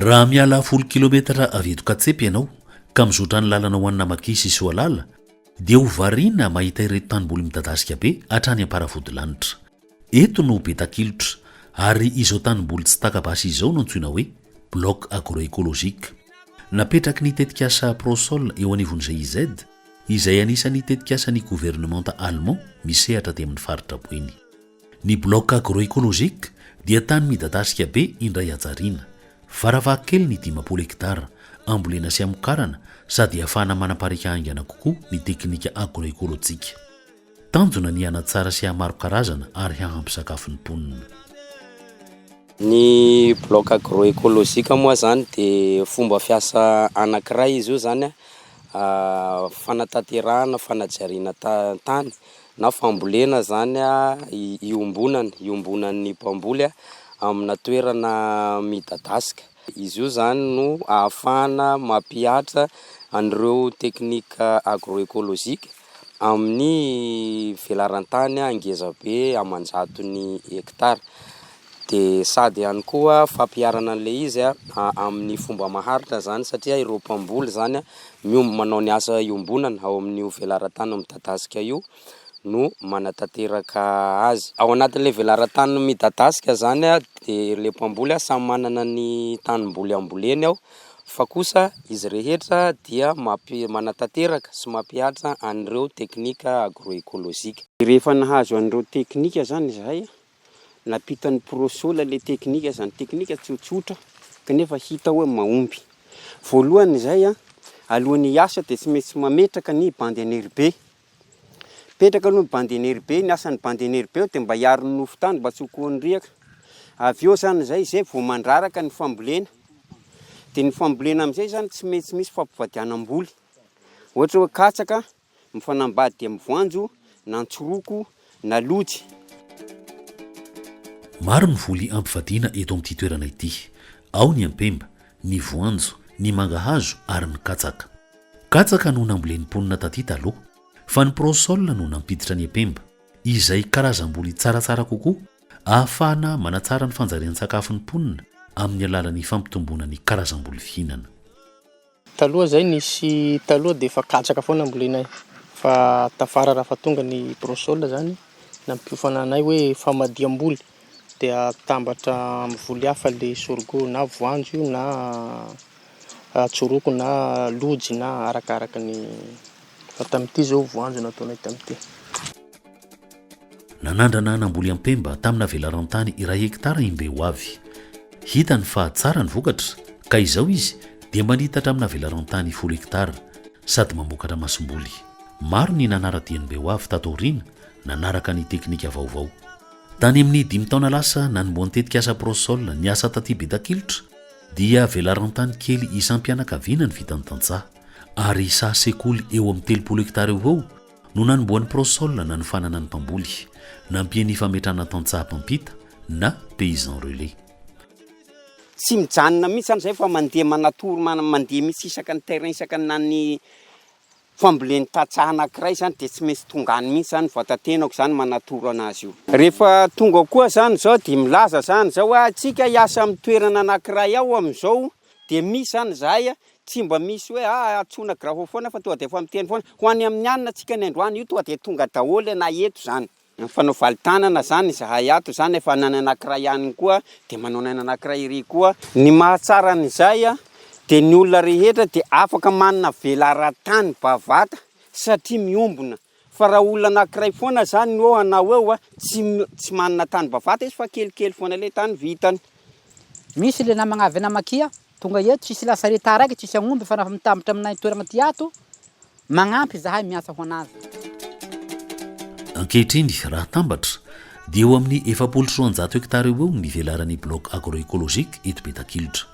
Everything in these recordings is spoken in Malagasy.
raha miala folo kilometatra avy eto katsepy ianao ka mizotra ny lalana ho anina maki sy soalala dia ho variana mahita ireto tanymboly midadasika be hatrany am-paravodilanitra Eto no be takilotra, ary izao tanimboly tsy taka-basy izao no antsoina hoe Bloc Agroecologique. Napetraky ny tetikasa Prosol eo anivon'ny GIZ, izay anisan'ny tetikasan'ny governemanta Allemand misehatra aty amin'ny faritra Boeny. Ny Bloc Agroecologique dia tany midadasika be indray hajariana, varavahakeliny dimampolo hektara, ambolena sy amokarana sady ahafahana manapariaka haingana kokoa ny teknika agroekolojika. Tanjona ny hanatsara sy hahamaro karazana ary hahampy sakafo ny mponina. Ny bloc agro-ecologique moa izany dia fomba fiasa anankiray izy io izany fanatanterahana fanajariana tany na fambolena izany iombonana, iombonan'ny mpamboly amina toerana midadasika. Izy io izany no ahafahana mampihatra an'ireo teknika agro-ecologique. amin'ny velaran-tany ngeza be aman-jatony hekitara. Dia sady ihany koa fampiharana an'ilay izy amin'ny fomba maharitra izany satria ireo mpamboly izany miom- manao ny asa iombonana ao amin'io velaran-tany midadasika io no manatanteraka azy. Ao anatin'ilay velaran-tany midadasika izany dia ilay mpamboly samy manana ny tanimboly amboleny ao fa kosa izy rehetra dia mampi, manatanteraka sy mampihatra an'ireo teknika agroekolojika. Dia rehefa nahazo an'ireo teknika izany izahay, nampitan'i Prosola ilay teknika, izany teknika tsotsotra kanefa hita hoe mahomby. Voalohany izay, alohan'ny hiasa dia tsy maintsy mametraka ny bandy an'eribe, Mipetraka aloha ny bandy enerbe, ny asan'ny bandy enerbe ao dia mba hiaro ny nofo tany mba tsy ho koan'ny riaka. Avy eo ohatran'izay izay vao mandraraka ny fambolena. Dia ny fambolena amin'izay izany tsy maintsy misy fampivadianam-boly. Ohatra hoe katsaka mifanambady amin'ny voanjo na an-tsoroko na lojy. Maro ny voly ampivadiana eto amin'ity toerana ity. Ao ny ampemba, ny voanjo, ny mangahazo ary ny katsaka. Katsaka no nambolen'ny mponina taty taloha, fa ny prosole no nampiditra ny ampemba, izay karazam-boly tsaratsara kokoa ahafahana manatsara ny fanjarian-tsakafon'ny mponina amin'ny alalan'ny fampitomboana ny karazam-boly fihinana. Taloha zay nisy taloha dia efa katsaka foana ambolenay fa tafara raha efa tonga ny prosol zany nampiofana anay hoe famadiham-boly dia atambatra amin'ny voly hafa le sorgho na voanjo io na tsoroko na lojy na arakaraka ny, fa tamin'ity zao voanjo no ataonay tamin'ity. Nanandrana namboly ampemba tamina velaran-tany iray hekitara i Mbehoavy. Hitany fa tsara ny vokatra, ka izao izy dia manitatra amina velaran-tany folo hekitara, sady mamokatra masomboly. Maro ny nanara-dia an'i Mbehoavy tato aoriana, nanaraka ny teknika vaovao. Tany amin'ny dimy taona lasa, nanombohan'ny tetikasa Prosol ny asa taty Betakilitra, dia velaran-tany kely isam-pianakaviana no vitan'ny tantsaha, ary saha sekoly eo amin'ny telopolo hekitara eo ho eo, No nanombohan'i Prosol nanofanana ny mpamboly, nampiany fametrahana tantsaha mpampita na paysan relais. Tsy mijanona mihitsy zany zay fa mandeha manatory man mandeha mihitsy isaka ny terrain isaka ny na ny fambolen'ny tantsaha anakiray zany de tsy maintsy tonga any mihitsy zany vatatenako zany manatoro anazy io. Rehefa tonga koa zany zao de milaza zany zao hoe atsika hiasa amin'ny toerana anakiray ao amin'izao Dia misy izany izahay a, tsy mba misy hoe a antsoina grafophone fa tonga dia efa miteny foana. Ho an'ny amin'ny alina antsika ny androany io tonga dia tonga daholo na eto izany. Mifanao valintanana izany izahay ato izany, efa ny an'ny anankiray any koa dia manao ny an'ny anankiray ery koa. Ny mahatsara an'izay a, dia ny olona rehetra dia afaka manavela ara-tany bavata satria miombona. Fa raha olona anankiray foana izany no eo hanao eo a, tsy tsy manana tany bavata izy fa kelikely foana ilay tany vitany. Misy le namagna avy Namakia tonga eto tsisy lasa reta araiky tsisy agnomby fa nafa mitambatra aminay toeragna ty ato magnampy zahay miasa ho anazy. Ankehitriny, raha atambatra, dia eo amin'ny efapolo sy roanjato hekitara eo ho eo ny velaran'ny Bloc Agro-Ecologique eto Betakilitra.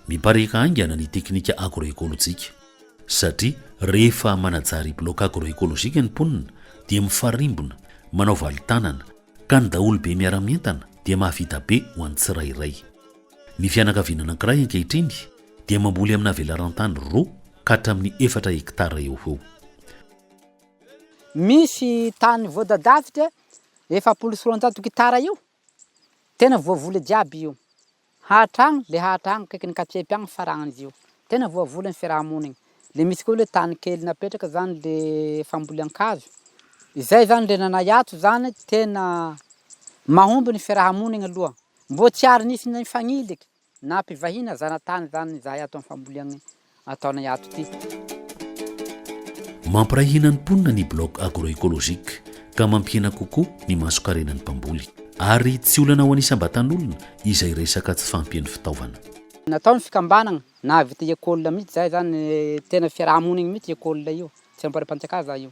Mipariaka haingana ny teknika agro-ekolojika. satria rehefa manajary bloc agro-écologique ny mponina dia mifarimbona, manao valintanana, ka ny daholobe miara-mientana dia mahavita be ho an'ny tsirairay. Ny fianakaviana anankiray ankehitriny dia mamboly amina velaran-tany roa ka hatramin'ny efatra hekitara eo ho eo. Misy tany voadadavitra efapolo sy roanjato hekitara eo, tena voavoly jiaby io. Hahatra agny le hahatra agny akaikin'ny katsepy agny faragnan'izy io. Tena voavola ny fiarahamonigny. Le misy koa le tany kely napetraka zany le fambolean-kazo. Izay zany le nanahy ato zany tena mahomby ny fiarahamonigny aloha. Mbô tsy ary nisy na nifagniliky na mpivahiny na zanatany zany zahay ato amin'ny famboleagne. ataonay ato ity. Mampiray hina ny mponina ny bloc agro-ecologique ka mampihena kokoa ny mason-karenan'ny mpamboly. Ary tsy olana ho an'isam-batan'olona izay resaka tsy fahampian'ny fitaovana. Natao ny fikambanagna, nahavita école mihitsy zahay zany, tena fiaraha-monigny mihitsy école io, tsy amparipantsikà za io.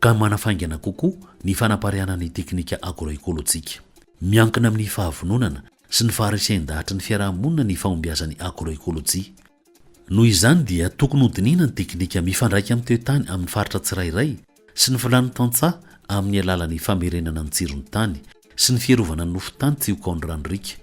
ka manafaingana kokoa ny fanapariahana ny teknika agroekolojika. Miankina amin'ny fahavononana sy ny faharesen-dahatry ny fiarahamonina ny fahombiazan'ny agroekolojia. Noho izany dia tokony hodinihina ny teknika mifandraika amin'ny toetany amin'ny faritra tsirairay sy ny filàn'ny tantsaha amin'ny alalan'ny famerenana ny tsiron'ny tany sy ny fiarovana ny nofon-tany tsy ho kaon-dRanoriaka.